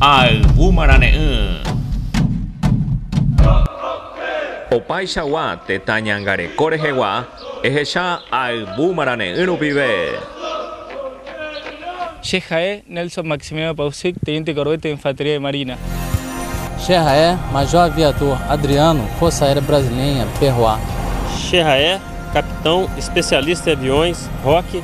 Ayvúma rane'ỹ. Opaichagua tetã ñangareko rehegua ehecha ayvúma rane'ỹ rupive. Che ha'e Nelson Maximiliano Pausic, Teniente Corbett de Infantería de Marina. Che ha'e Major Viator Adriano, Força Aérea Brasileña, PROA. Che ha'e Capitão Especialista de Aviões Roque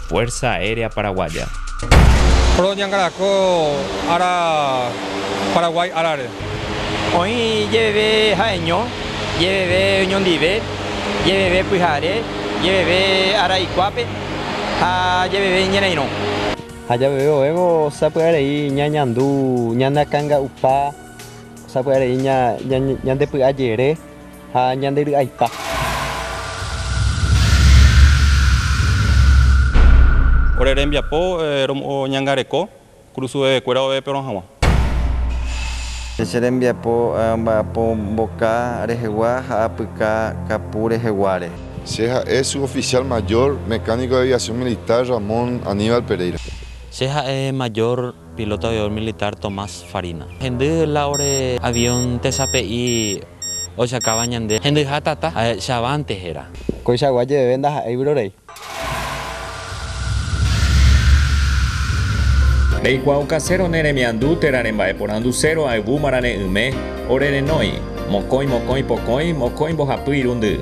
Fuerza Aérea Paraguaya. Roñangareko ára Paraguái árare. Oĩ jeveve ha'eño, jeveve oñondive, jeveve pyhare, jeveve ára ikuápe ha jeveve iñe'ẽrairõ. Ha jeveve oĩvo sapy'arei ñañandu ñanakãnga'upa, sapy'arei ñandepy'ajere. ha ñande ry'aipa. Ore rembiapo romoñangareko, krusuvevekuéra ove'ẽperõ hag̃ua. Che rembiapo amba'apo mboka rehegua ha apyka kapu reheguáre. Che ha'e Suboficial Mayor, Mecánico de Aviación Militar, Ramón Aníbal Pereira. Che ha'e Mayor Piloto aviador militar Tomás Farina. Hendy la ore avión tesape'i ojakáva ñande hendyha tata, ha'echavánte héra. Koichagua jeveve ndaha'éi vyrorei. Reikuaau kaséro ne remiandu térã remba'eporandu séro ayvu marane'yme ore renói, mokõi mokõi pokõi mokõi mbohapy irundy.